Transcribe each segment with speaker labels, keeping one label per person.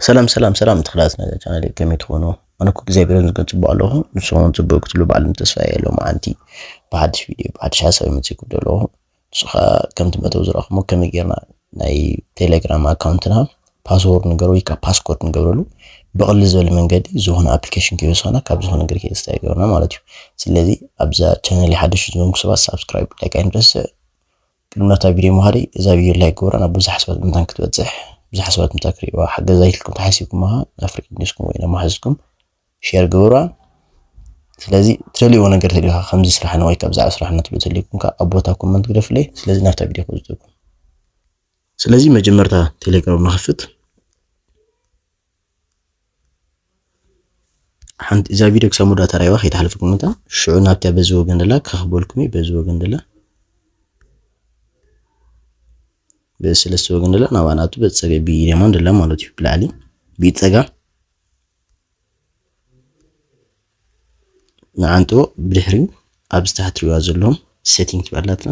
Speaker 1: ሰላም ሰላም ሰላም ተኽላት ናይ ቻናል ከመይ ትኾኑ? ኣነ እኮ እግዚኣብሔር ይመስገን ፅቡቅ ኣለኹ ንስኹም እውን ፅቡቅ ክትብሉ ባዕልም ተስፋ እየ ሎምዓንቲ ብሓድሽ ቪድዮ ብሓድሽ ሓሳብ መፂእኩ ዘለኹ ንሱ ከዓ ከምቲ መተው ዝረኣኹሞ ከመይ ጌርና ናይ ቴሌግራም ኣካውንትና ፓስወርድ ንገሩ ወይ ከዓ ፓስኮርድ ንገብረሉ ብቅሊ ዝበለ መንገዲ ዝኾነ ኣፕሊኬሽን ከይወሰና ካብ ዝኾነ ነገር ከይስታ ይገብረና ማለት እዩ ስለዚ ኣብዛ ቻነል ሓድሽ ዝኮንኩ ሰባት ሳብስክራይብ ላይክ ኣይንረስዕ ቅድሚ ናብታ ቪድዮ ምኻደይ እዛ ቪድዮ ላይክ ግበራ ናብ ብዙሓት ሰባት ምእንታን ክትበጽሕ ብዙሓት ሰባት ምእንታ ክርእዩዋ ሓገዛ ኢልኩም ተሓሲብኩምሃ ናብ ፍሬንድ ሊስትኩም ወይ ናብ መሓዙትኩም ሼር ግበሩዋ ስለዚ ትደልይዎ ነገር ተልዩካ ከምዚ ስራሕና ወይ ካብ ብዛዕባ ስራሕና ትብሉ ተልዩኩም ከ ኣብ ቦታ ኮመንት ግደፍለይ ስለዚ ናብታ ቪድዮ ክወስደኩም ስለዚ መጀመርታ ቴሌግራም ንኸፍት ሓንቲ እዛ ቪድዮ ክሳብ ሙዳ ተራይዋ ከይተሓልፍኩም እታ ሽዑ ናብታ በዚ ወገን ደላ ከኽበልኩም እዩ በዚ ወገን ደላ በዚ ሰለስተ ወገን ደላ ናብኣ ናቱ በዚ ፀገ ብየማን ደላ ማለት እዩ ብላዕሊ ብኢድ ፀጋም ንዓንጥቦ ብድሕሪኡ ኣብ ዝተሓትሪዋ ዘለዎም ሴቲንግ ትበላትና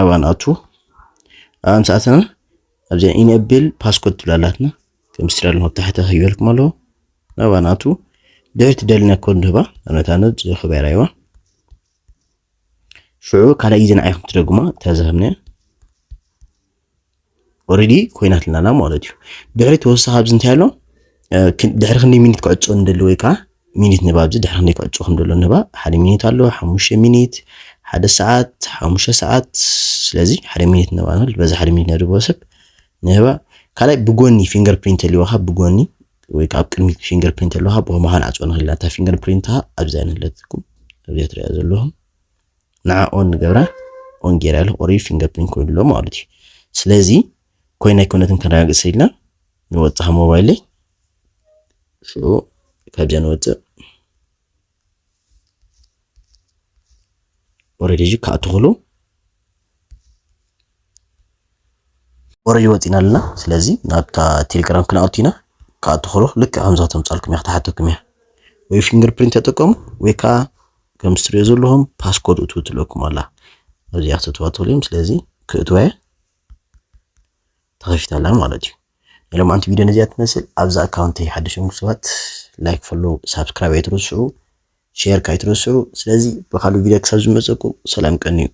Speaker 1: ኣብኣ ንኣቱ ኣብኣ ምስ ኣተና ኣብዛ ኢነብል ፓስኮድ ትብል ኣላትና ከም ስራ ኣለኹ ኣብ ታሕቲ ክህበልኩም ኣለዎ ናብኣ ንኣቱ ድሕሪ ትደልና ኮድ ንህባ ኣብነት ኣነት ዝኸበራ ይዋ ሽዑ ካልኣይ ግዜ ንዓይኹም ትደግማ እታ ዝሃብናያ ኦልሬዲ ኮይናትና ኣላ ማለት እዩ። ድሕሪ ተወሳኺ ኣብዚ እንታይ ኣሎ ድሕሪ ክንደይ ሚኒት ክዕጾ እንደሎ ወይ ከዓ ሚኒት ንባ ኣብዚ ድሕሪ ክንደይ ክዕጾ ከም ዘሎ ንባ ሓደ ሚኒት ኣሎ ሓሙሽተ ሚኒት ሓደ ሰዓት ሓሙሽተ ሰዓት ስለዚ ሓደ ሚኒት ንባ ንብል በዚ ሓደ ሚኒት ነድቦ ሰብ ንህባ ካልኣይ ብጎኒ ፊንገር ፕሪንት ኣልዋካ ብጎኒ ወይ ከዓ ኣብ ቅድሚት ፊንገር ፕሪንት ኣለዋካ ብኸማኻ ንዓጽወ ንኽእል ኢና እታ ፊንገር ፕሪንትካ ኣብዚኣ ንህለትኩም ኣብዚኣ ትሪኣ ዘለኹም ንዓ ኦን ንገብራ ኦን ጌራ ኢለ ቁሩብ ፊንገርፕሪንት ኮይኑ ኣሎ ማለት እዩ ስለዚ ኮይና ኣይኮነትን ከረጋግጽ ኢልና ንወጽእ ካብ ሞባይለይ ሽዑ ካብዛ ንወጽእ ኦልሬዲ እዚ ክኣቱ ክሉ ወረጅ ወፂና ኣለና ስለዚ ናብታ ቴሌግራም ክንኣቱ ኢና ክኣቱ ከሎ ልክዕ ከምዛ ተምፃልኩም እያ ክትሓተኩም እያ ወይ ፊንገር ፕሪንት ተጠቀሙ ወይ ከዓ ከም ስትሪዮ ዘለኹም ፓስኮድ እትው ትለኩም ኣላ ኣብዚኣ ክትእትዋ ትኽእሉ እዮም ስለዚ ክእትዋ እየ ተኸፊታ ኣላ ማለት እዩ ናይ ሎማዓንቲ ቪድዮ ነዚኣ ትመስል ኣብዛ ኣካውንተይ ሓደሽም ሰባት ላይክ ፈሎ ሳብስክራይብ ኣይትረስዑ ሼር ካይትረስዑ። ስለዚ ብካልእ ቪድዮ ክሳብ ዝመፀኩም ሰላም ቀንዩ።